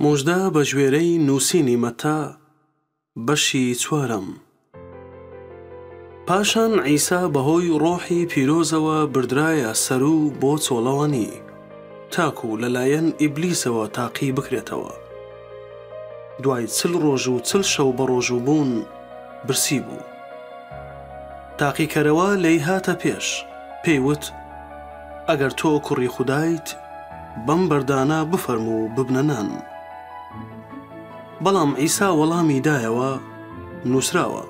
موژدە بەگوێرەی نووسینی مەتا بەشی چوارەم. پاشان عیسا بەهۆی ڕۆحی پیرۆزەوە بردرایە سەر و بۆ چۆڵەوانی، تاکو لەلایەن ئیبلیسەوە تاقی بکرێتەوە. دوای چل ڕۆژ و چل شەو بەڕۆژووبوون برسی بوو. تاقیکەرەوە لێی هاتە پێش، پێی وت، ئەگەر تۆ کوڕی خودایت بەم بەردانە بفەرموو و ببنە نان. بەڵام عیسا وەڵامی دایەوە، نووسراوە،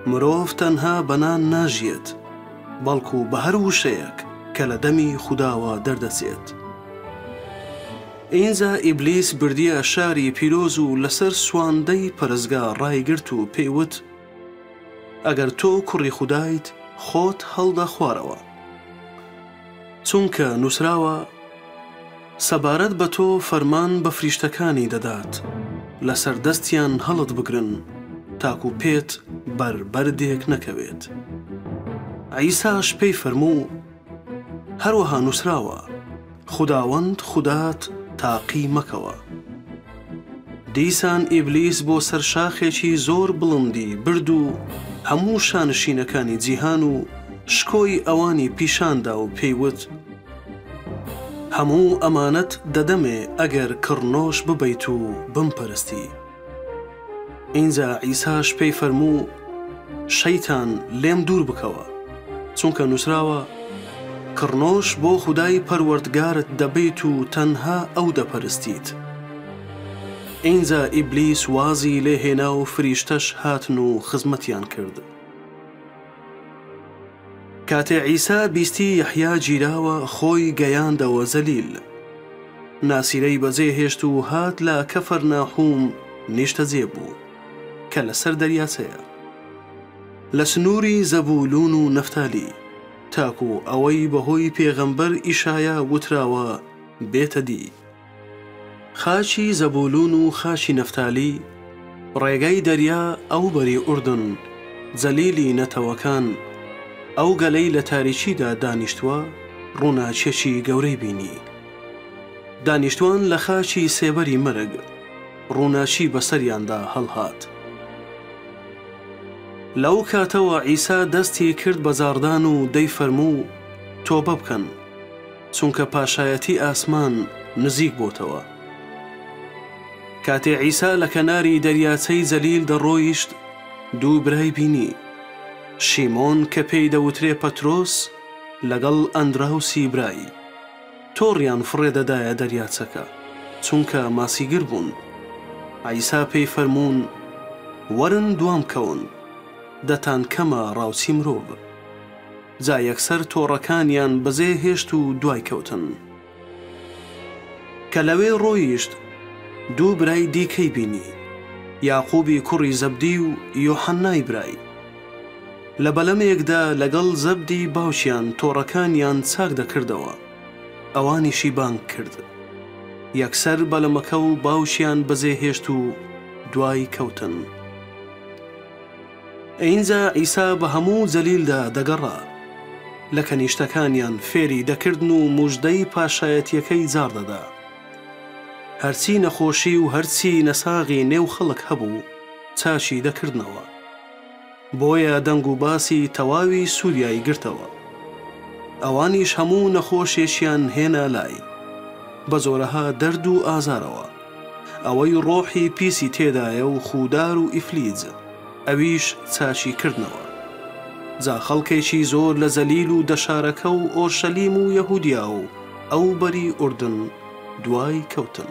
مرۆڤ تەنها بە نان ناژیێت، بەڵکو بە هەر وشەیەک کە لە دەمی خوداوە دەردەچێت. ئینجا ئیبلیس بردییە شاری پیرۆز و لەسەر سواندەی پەرستگا ڕایگرت و پێی وت، ئەگەر تۆ کوڕی خودایت خۆت هەڵدە خوارەوە. چونکە نووسراوە، سەبارەت بە تۆ فەرمان بە فریشتەکانی دەدات لەسەر دەستیان هەڵتبگرن تاکو پێت بەر بەردێک نەکەوێت. عیساش پێی فەرموو. هەروەها نووسراوە، خوداوەند خودات تاقی مەکەوە. دیسان ئیبلیس بۆ سەر شاخێکی زۆر بڵندی برد و هەموو شانشینەکانی جیهان و شکۆی ئەوانی پیشان دا و پێی وت، هەموو ئەمانەت دەدەمێ ئەگەر کڕنۆش ببەیت و بمپەرستی. ئینجا عیساش پێی فەرموو، شەیتان لێم دوور بکەوە، چونکە نووسراوە، کڕنۆش بۆ خودای پەروەردگارت دەبەیت و تەنها ئەو دەپەرستیت. ئینجا ئیبلیس وازی لێ هێنا و فریشتەش هاتن و خزمەتیان کرد. کاتێ عیسا بیستی یەحیا گیراوە خۆی گەیاندەوە زەلیل ناسیرەی بەجێ هێشت و هات لە کەفەر ناحوم نیشتەجێ بوو کە لەسەر دەریاچەیە لە سنووری زەبولون و نەفتالی تاکو ئەوەی بەهۆی پێغەمبەر ئیشایا وتراوە بێتە دی. خاچی زەبولون و خاچی نەفتالی، ڕێگای دەریا ئەو بەری ئوردن، جەلیلی نەتەوەکان، ئەو گەلەی لە تاریکیدا دانیشتووە، ڕووناکیەکی گەورەی بینی. دانیشتوان لە خاکی سێبەری مەرگ، ڕووناکی بەسەریاندا هەڵهات. لەو کاتەوە عیسا دەستی کرد بە جاڕدان و دەیفەرموو، تۆبە بکەن. چونکە پاشایەتی ئاسمان نزیک بۆتەوە. کاتێ عیسا لە کەناری دەریاچەی جەلیل دەڕۆیشت، دوو برای بینی، شیمۆن کە پێی دەوترێ پەترۆس لەگەڵ ئەندراوسی برای، تۆڕیان فڕێ دەدایە دەریاچەکە، چونکە ماسیگر بوون. عیسا پێی فەرموون، وەرن دوام کەون، دەتانکەمە ڕاوچی مرۆڤ. جا یەکسەر تۆڕەکانیان بەزێ هێشت و دوای کەوتن. کە لەوێ ڕۆیشت دوو برای دیکەی بینی، یاقوبی کوڕی زەبدی و یۆحەنای برای. لە بەلەمێکدا لەگەڵ زەبدی باوکیان تۆڕەکانیان چاک دەکردەوە، ئەوانیشی بانگ کرد. یەکسەر بەلەمەکە و باوکیان بەزێ هێشت و دوای کەوتن. ئینجا عیسا بە هەموو جەلیلدا دەگەڕا. لە کەنیشتەکانیان فێری دەکردن و موژدەی پاشایەتییەکەی جاڕ دەدا. هەرچی نەخۆشی و هەرچی نەساغی نێو خەڵک هەبوو، چاکی دەکردنەوە. بۆیە دەنگ و باسی تەواوی سوریای گرتەوە. ئەوانیش هەموو نەخۆشێکیان هێنا لای، بە جۆرەها دەرد و ئازارەوە. ئەوەی ڕۆحی پیسی تێدایە و خوودار و ئیفلیج ئەویش چاکی کردنەوە. جا خەڵکێکی زۆر لە جەلیل و دەشارەکە و ئۆرشەلیم و یەهوودیا و ئەو بەری ئوردن دوای کەوتن.